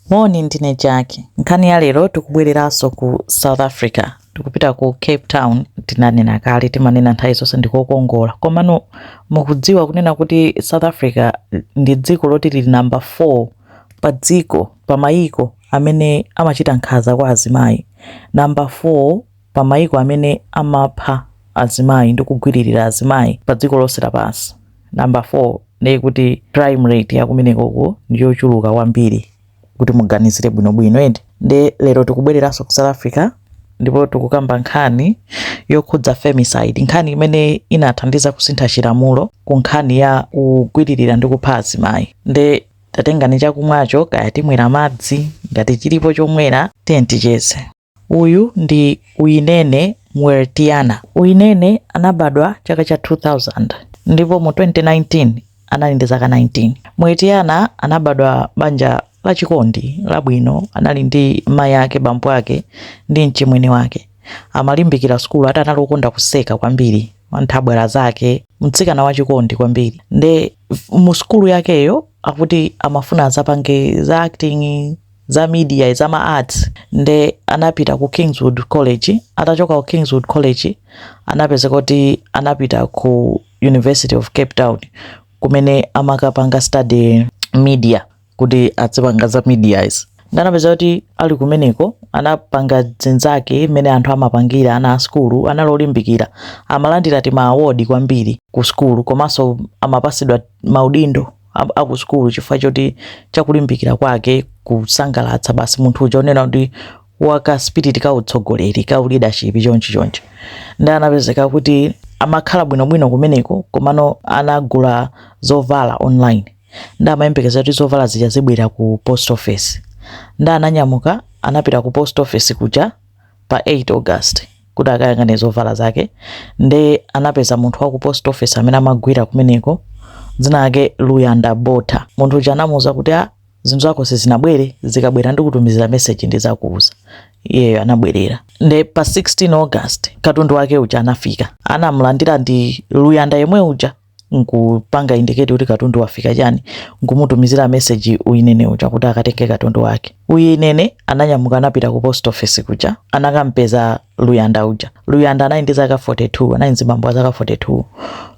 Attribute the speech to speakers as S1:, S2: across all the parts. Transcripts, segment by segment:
S1: Moni, ndine Jackie. Nkhani ya lero tikubwereranso ku South Africa. Tikupita ku Cape Town. Tinanena kale, timanena nthawi zonse ndikokongola. Komano mukudziwa kunena kuti South Africa ndi dziko loti lili namba 4 pa dziko pa mayiko amene amachita nkhanza kwa azimayi. Namba 4 pa maiko amene amapha azimayi ndi kugwililira azimayi pa dziko lonse lapansi. Number 4 nde kuti crime rate ya kumenekoko ndi yochuluka kwambiri kuti muganizire bwinobwino eti. Nde lero tikubwereranso ku South Africa ndipo tikukamba nkhani yokhudza femicide, nkhani imene inathandiza kusintha chilamulo ku nkhani ya kugwililira ndi kupha azimayi. Nde tatengani chakumwacho kaya timwera madzi, ngati chilipo chomwera tiyeni ticheze. Uyu ndi Uyinene Mrwetyana. Uyinene anabadwa chaka cha 2000 ndipo mu 2019 anali ndi zaka 19. Mrwetyana anabadwa banja lachikondi, labwino. Anali ndi mayi ake, bambo ake ndi mchimwene wake. Amalimbikira sukulu ati anali okonda kuseka kwambiri anthabwala zake, mtsikana wachikondi kwambiri. Nde mu sukulu yakeyo akuti amafuna azapange za acting. za media za ma arts nde anapita ku Kingswood College atachoka ku Kingswood College anapezeka kuti anapita ku University of Cape Town kumene amakapanga study media kuti adzipanga za media izi nde anapezeka kuti ali kumeneko anapanga dzinzake mmene anthu amapangira ana a sukulu anali olimbikira amalandira ti maawodi kwambiri ku sukulu komanso amapasidwa maudindo aku sukulu chifukwa choti chakulimbikira kwake kusangalatsa basi munthu uja onena kuti waka spirit ka utsogoleri ka leadership chonchi chonchi nde anapezeka kuti amakhala bwinobwino kumeneko komano anagula zovala online nde amayembekeza kuti zovala zija zibwera ku post office nde ananyamuka anapita ku post office kuja pa 8 august kuti akayang'ane zovala zake nde anapeza munthu wa ku post office amene amagwira kumeneko dzina lake luyanda botha munthu uja anamuuza kuti a zinthu zako sizinabwere zikabwera ndikutumizira meseji ndizakuuza iyeyo anabwerera nde pa 16 august katundu wake uja anafika anamulandira ndi luyanda yemwe uja nkupanga indicate kuti katundu wafika chani nkumutumizira message uyinene uja kuti akatenge katundu wake uyinene ananyamuka anapita ku post office kuja anakampeza luyanda uja luyanda anali ndi zaka 42 anali mzibambo wa zaka 42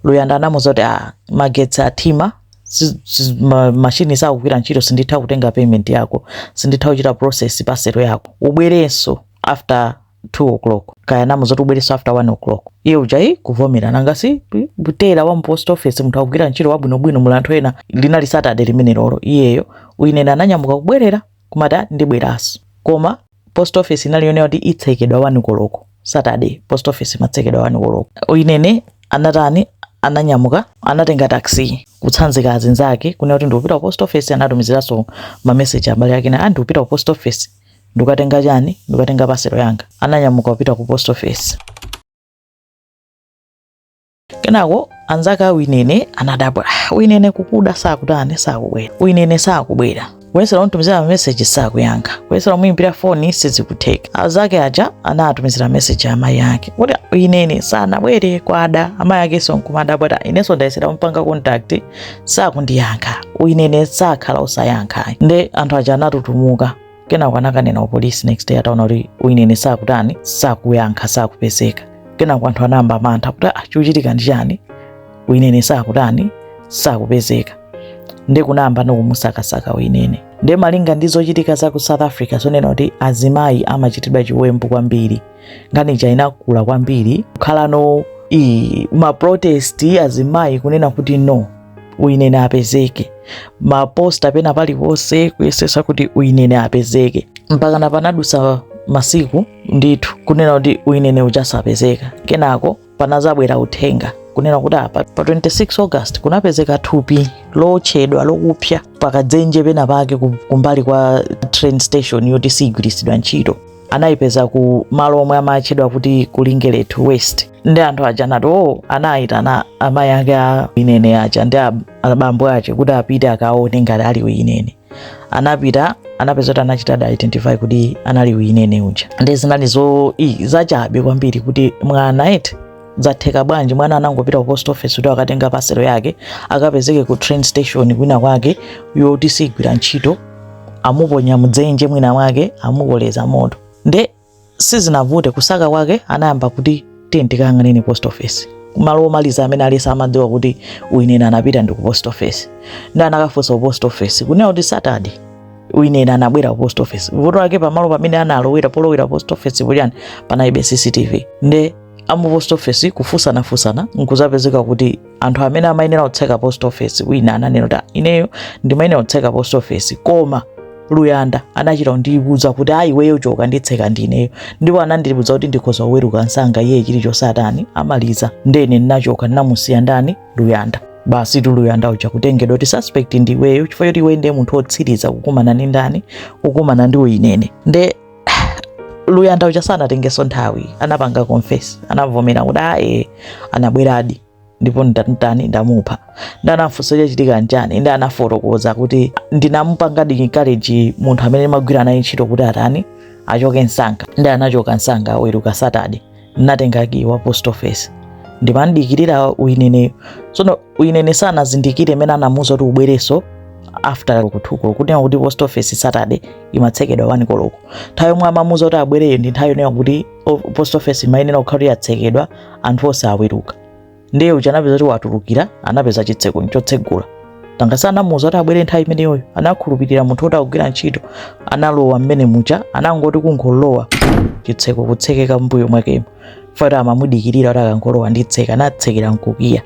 S1: luyanda anamuuza kuti ah, magetsi athima si- si- ma- mashini sakugwira ntchito sinditha kutenga payment yako sinditha kuchita process parcel yako ubwerenso after 2 o'clock kaya namuuza kuti ubwereso after 1 o'clock iye ujayi kuvomera nanga si mteller wa mu post office munthu akugwira ntchito wabwinobwino muli anthu ena linali saturday limene lolo iyeyo uyinene ananyamuka kubwerera kumati "Ah, ndibweranso koma post office inali yonena kuti itsekedwa 1 koloko saturday post office imatsekedwa 1 koloko uyinene anatani ananyamuka anatenga taxi kutsanzika azinzake kunena kuti ndikupita ku post office anatumiziranso mameseji abale ake na andikupita ku post office Ndikukatenga chani? Ndikukatenga paselo yanga. Ananyamuka kupita ku post office. Kenako anzake a Uyinene anadabwa. Ah, Uyinene kukuda sakutani sakubwera. Uyinene sakubwera. Kuyesera kumtumizira meseji sakuyankha. Kuyesera kumuimbira foni sizikutheka. Anzake aja anatumizira meseji amayi ake. Kuti Uyinene sanabwere kwada. Amayi akenso nkumadabwa ati inenso ndayesera kumpanga contact sakundiyankha uyinene sakhala osayankha nde anthu aja anatutumuka kenako anakanena ku polisi next day ataona kuti uyinene sakutani sakuyankha sakupezeka kenako anthu anayamba mantha kuti ah, chikuchitika ndi chani uyinene sakutani sakupezeka nde kunayamba ndikumusakasaka uyinene nde malinga ndi zochitika za ku south africa zonena kuti azimayi amachitidwa chiwembu kwambiri nkhani ija inakula kwambiri kukhalano iyi maprotesti azimayi kunena kuti no uyinene apezeke maposta pena paliponse kuyesesa kuti uyinene apezeke mpakana panadusa masiku ndithu kunena kuti uyinene uja sapezeka kenako panazabwera uthenga kunena kuti apa pa 26 august kunapezeka thupi lootchedwa lokupsa pakadzenje pena pake ku- kumbali kwa train station yoti sigwiritsidwa ntchito anayipeza ku malo omwe amatchedwa kuti ku Lingelethu West nde anthu aja anati o anayitana amayi ake a uyinene aja ndi a- abambo ache kuti apite akaone ngati ali uyinene anapita anapeza kuti anachita identify kuti anali uyinene uja nde zinali zo i zachabe kwambiri kuti mwana eti zatheka bwanji mwana anangopita ku post office kuti akatenge paselo yake akapezeke ku train station kwina kwake yoti sigwira ntchito amuponya mdzenje mwina mwake amukoleza moto nde sizinavute kusaka kwake anayamba kuti tiyeni tikayang'ane post office malo omaliza amene aliyense amadziwa kuti uyinene anapita ndi ku post office nde anakafunsa ku post office kunena kuti saturday uyinene anabwera ku post office vuto lake pamalo pamene analowera polowera post office pochani panalibe cctv nde amu post office kufunsanafunsana nkuzapezeka kuti anthu amene amayenera kutseka post office wina ananena kuti ineyo ndimayenera kutseka post office koma luyanda anachita kundiuza kuti ayi iweyo choka nditseka ndineyo ndipo anandiuza kuti ndikhoza kuweruka msanga iye chilichonse atani amaliza nde ine ndinachoka ndinamusiya ndani luyanda basitu luyanda uja kutengedwa kuti suspect ndiweyo chifukwa choti iwe ndiye munthu wotsiriza kukumana ndi ndani kukumana ndi uyinene nde luyanda uja sanatengenso nthawi anapanga confess anavomera kuti ae anabweradi ndipo ndinatani ndamupha nde anamfunsa chachitika nchani nde anafotokoza kuti ndinamupanga encourage munthu amene ndimagwira naye ntchito kuti atani achoke msanga nde anachoka msanga aweruka saturday natenga ki wa post office ndimamdikirira uyineneyo tsono uyinene sanazindikire mmene anamuuza kuti ubwereso after 2 koloko kunena kuti post office saturday imatsekedwa wani koloko nthawi yomwe amamuza kuti abwereyo ndi nthawi yonena kuti post office imayenera kukhala kuti yatsekedwa anthu onse aweruka ndiye uja anapeza kuti watulukira anapeza chitseko nchotsegula nanga si anamuuza kuti abwere nthawi imeneyoyo anakhulupirira munthu woti akugwira ntchito analowa mmene muja anangoti kungolowa chitseko kutsekeka mbuyo mwakemo faka amamudikirira kuti akangolowa nditseka anatsekera nkukiya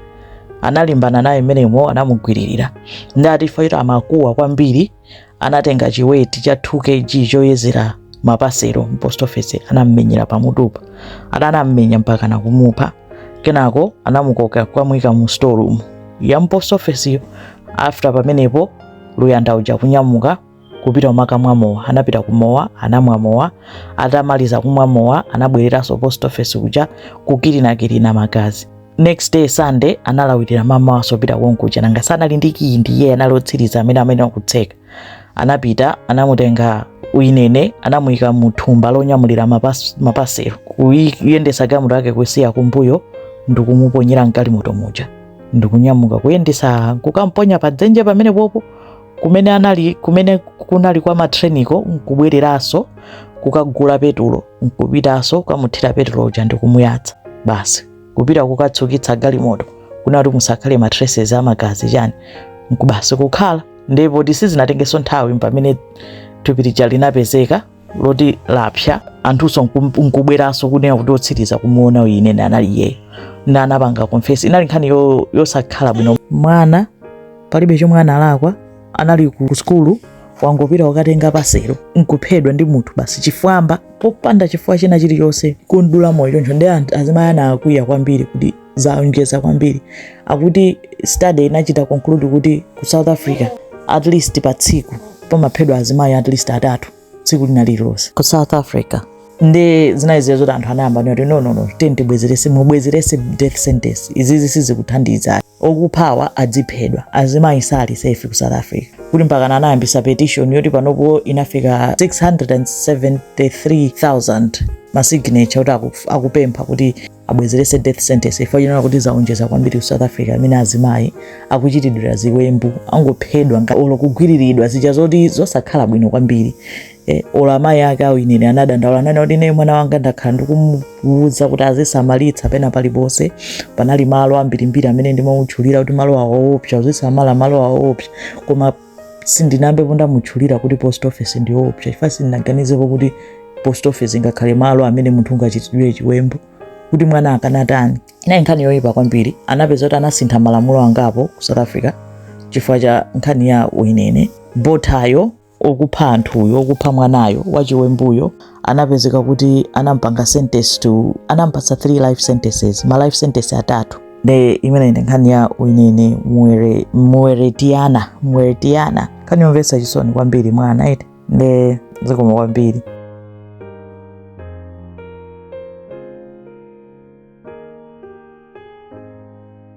S1: analimbana naye mmenemo anamugwiririra nde ati faka amakuwa kwambiri anatenga chiweti cha 2 kg choyezera mapasero mpost office anammenyera pamutupa anammenya mpaka nakumupha kenako anamukoka kwamwika mu storeroom ya mpost office yo after pamenepo luyanda uja kunyamuka kupita kukamwa mowa anapita kumowa anamwa mowa atamaliza kumwa mowa anabwereranso post office uja kukirinakirina magazi next day sunday analawirira mmamawanso kupita konkuja nanga si anali ndi kiyi ndiye anali otsiriza amene amene akutseka anapita anamutenga uyinene anamuyika mu thumba lonyamulira mapas- mapaselo Kuyi- kuyendesa galimoto yake kusiya kumbuyo ndikumuponyera mgalimoto muja ndikunyamuka kuyendesa kukamponya pa dzenje pamene popo kumene anali kumene kunali kwa matreniko nkubwereranso kukagula petulo nkupitanso kukamuthira petulo uja ndikumuyatsa basi kupita kukatsukitsa galimoto kunena kuti musakhale ma traces a magazi chani nkubwera basi kukhala ndipo sizinatengenso nthawi pamene thupi lija linapezeka loti lapsa anthunso nkum- nkubweranso kunena kuti otsiriza kumuona uyinene anali iyeyo na anapanga confess inali nkhani yo- yosakhala bwino mwana palibe chomwe analakwa anali ku sukulu anangopita kukatenga paselo nkuphedwa ndi munthu basi chifwamba popanda chifukwa china chilichonse kumdula moyo choncho nde azimayi anakwiya kwambiri kuti zaonjeza kwambiri akuti study inachita conclude kuti ku south africa at least pa tsiku pamaphedwa azimayi at least atatu tsiku lina lililonse ku south africa nde zinawaiza zoti anthu anayamba kuti no no no tiyeni tibwezerese mubwezerese death sentence izizi sizikuthandiza akuphawa adziphedwa azimayi sali safe ku south africa kuti mpakana anayambisa petition yoti panopo inafika 673000 masignature kuti aku- akupempha kuti abwezerese death sentence chifukwa anaona kuti zaonjeza kwambiri ku south africa amene azimayi akuchitiridwa ziwembu akungophedwa nga- olo kugwiriridwa zija zoti zosakhala bwino kwambiri eh, olo amayi ake a Uyinene anadandaula ananena kuti ine mwana wanga ndakhala ndikumuwuza kuti azisamalitsa pena paliponse panali malo ambirimbiri amene ndimamutchulira kuti malo awo oopsa uzisamala malo awo oopsa koma sindinayambepo ndamutchulira kuti post office ndi yoopsa chifukwa sindinaganizepo kuti post office ingakhale malo amene munthu ungachitiridwe chiwembu kuti mwana akanatani inali nkhani yoyipa kwambiri anapeza kuti anasintha malamulo angapo ku south africa chifukwa cha nkhani ya Uyinene Bothayo okupha anthuyo okupha mwanayo wachiwembuyo anapezeka kuti anampanga sentence to anampatsa 3 life sentences ma life sentence atatu nde imeneyo ndi nkhani ya uyinene muwere Mrwetyana Mrwetyana nkhani yomvetsa chisoni kwambiri mwana eti nde zikoma kwambiri